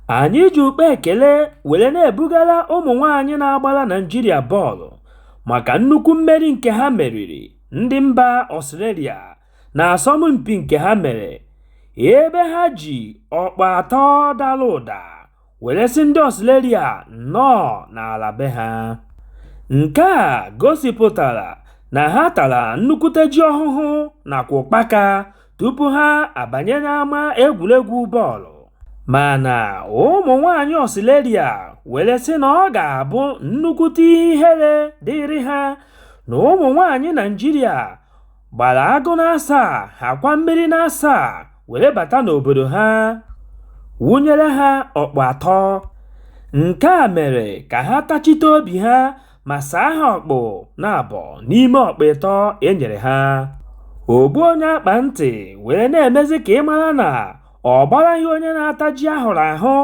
Anyị ji ukpe ekele were na-ebugara ụmụ nwaanyị na-agbara Naịjirịa bọọlụ maka nnukwu mmeri nke ha meriri ndị mba Australia n'asọmpi nke ha mere ebe ha ji ọkpụ atọ dara ụda were sị ndị Australia nnọọ n'ala be ha. Nke a gosipụtara na ha tara nnukwute ji ọhụhụ nakwa ụkpaka. tupu ha abanye n'ama egwuregwu bọọlụ mana ụmụ nwanyị Ọstrelia were sị na ọ ga-abụ nnukwute ihe ihere dịrị ha na ụmụ nwanyị Naịjirịa gbara agụ n'asaa nakwa mmiri n'asaa were bata n'obodo ha wụnyere ha ọkpụ atọ. Nke a mere ka ha tachite obi ha ma saa ha ọkpụ naabọ n'ime ọkpụ ịtọ e nyere ha ogbu onye akpa ntị were na-emezi ka ị mara na ọ gbaraghị onye na-ata ji ahụrụ ahụ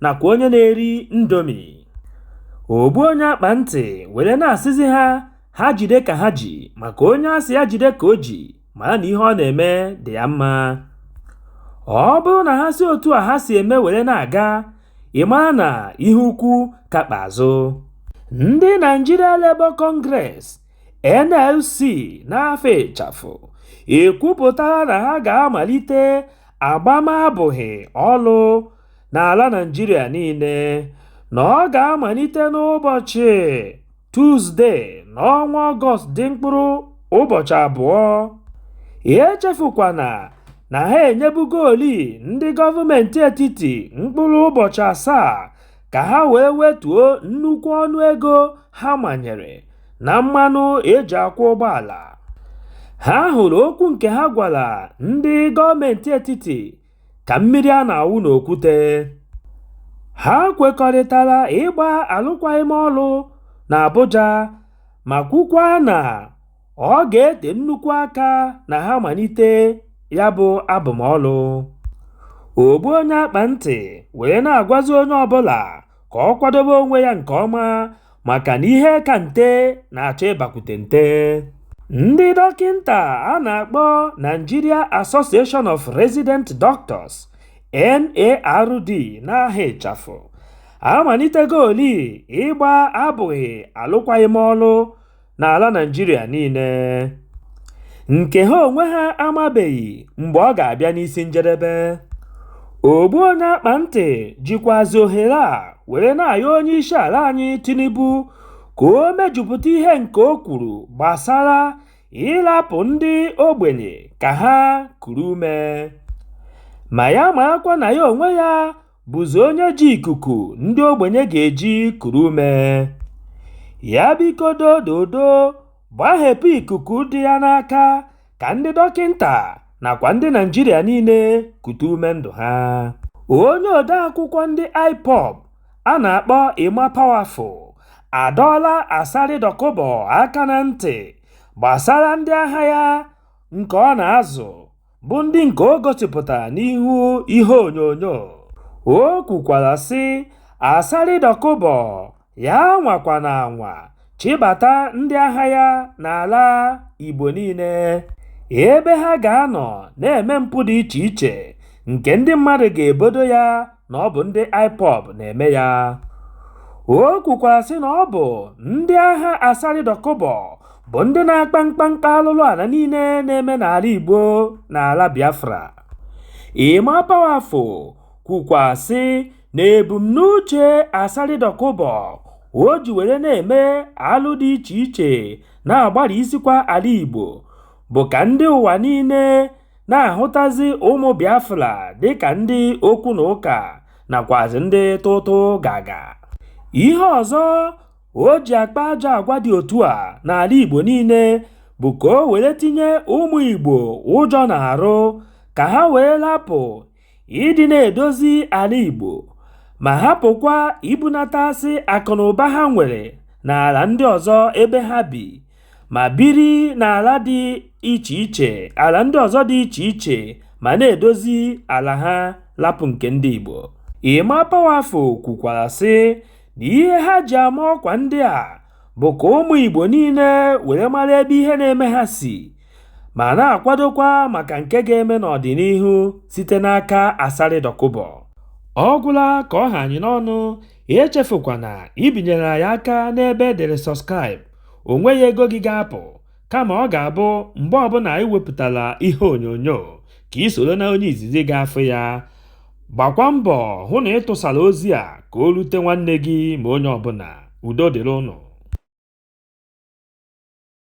nakwa onye na-eri indomie ogbu onye akpa ntị were na-asịzi ha ha jide ka ha ji maka onye a sị ya jide ka o ji mara na ihe ọ na-eme dị ya mma. Ọ bụrụ na ha si otu a ha si eme were na-aga, ị mara na ihe ukwu ka kpụ azụ. Ndị Nigeria Labour Congress, NLC, n'afa ịchafụ ekwupụtala na ha ga-amalite agbamabụghị ọlụ n'ala Naịjirịa niile, na ọ ga-amalite n'ụbọchị. Tuzdee n'ọnwa Ọgọst dị mkpụrụ ụbọchị abụọ. Echefukwana na ha enyebugoolị ndị gọọmentị etiti mkpụrụ ụbọchị asaa ka ha wee wetuo nnukwu ọnụego ha manyere na mmanụ e ji akwọ ụgbọala. Ha hụrụ okwu nke ha gwara ndị gọọmentị etiti ka mmiri a na-awụ n'okwute ha kwekọrịtara ịgba alụkwaghịm ọlụ na Abuja ma kwukwa na ọ ga-ete nnukwu aka na ha malite ya bụ abụmọlụ. Ogbu onye akpa ntị wee na-agwazi onye ọbụla ka ọ kwadobe onwe ya nke ọma maka na ihe ka nte na-achọ ịbakwute nte ndị dọkịnta a na-akpọ Nigeria Association of Resident Doctors NARD n'aha ịchafụ amalitegoolị ịgba abụghị alụkwaghịm ọlụ n'ala Naịjirịa niile nke ha onwe ha amabeghị mgbe ọ ga-abịa n'isi njedebe ogbu onye akpa ntị jikwazi ohere a were na-ayọ onye isi ala anyị Tinubu ka o mejupụta ihe nke o kwuru gbasara ịrapụ ndị ogbenye ka ha kuru ume ma ya marakwa na ya onwe ya bụzi onye ji ikuku ndị ogbenye ga-eji kuru ume. Ya biko dododo gbahepụ ikuku dị ya n'aka ka ndị dọkịnta nakwa ndị Naịjirịa niile kute ume ndụ ha. Onye odeakwụkwọ ndị IPOB a na-akpọ Emma Powerful adọọla Asari Dokubo aka na ntị gbasara ndị agha ya nke ọ na-azụ bụ ndị nke o gosipụtara n'ihu ihe onyonyo. O kwukwara sị, Asari Dokubo ya nwakwana anwa chịbata ndị agha ya n'ala Igbo niile, ebe ha ga-anọ na-eme mpụ dị iche iche nke ndị mmadụ ga-ebodo ya na ọ bụ ndị IPOB na-eme ya. O kwukwara sị na ọ bụ ndị agha Asari Dokubo bụ ndị na-akpa mkpamkpa alụlụ ala niile na-eme n'ala Igbo na ala Biafra Emma Powerful kwukwa sị na ebumnuche Asari Dokubo o ji were na-eme alụ dị iche iche na-agbarisikwa ala Igbo bụ ka ndị ụwa niile na-ahụtazi ụmụ Biafra dịka ndị okwu na ụka nakwazị ndị tụtụ gaga ihe ọzọ o ji akpa ajọ agwa dị otu a n'ala Igbo niile bụ ka o were tinye ụmụ Igbo ụjọ n'arụ ka ha wee lapụ ịdị na-edozi ala Igbo ma hapụkwa ibunatasị akụnụba ha nwere n'ala ndị ọzọ ebe ha bi ma biri n'ala dị iche iche ala ndị ọzọ dị iche iche ma na-edozi ala ha lapụ nke ndị Igbo. Emma Powerful kwukwara sị na ihe ha ji ama ọkwa ndị a bụ ka ụmụ Igbo niile were mara ebe ihe na-eme ha si ma na-akwadokwa maka nke ga-eme n'ọdịnihu site n'aka Asari Dokubo. Ọ gwụla ka ọ ha anyị n'ọnụ, echefukwana ibinyere anyị aka n'ebe e dere subscribe, o nweghị ego gị ga-apụ. kama ọ ga-abụ mgbe ọbụla anyị wepụtara ihe onyonyo ka i soro na onye izizi ga-afụ ya gbakwa mbọ hụ na ị tụsara ozi a ka o rute nwanne gị ma onye ọbụla udo dịrị ụnụ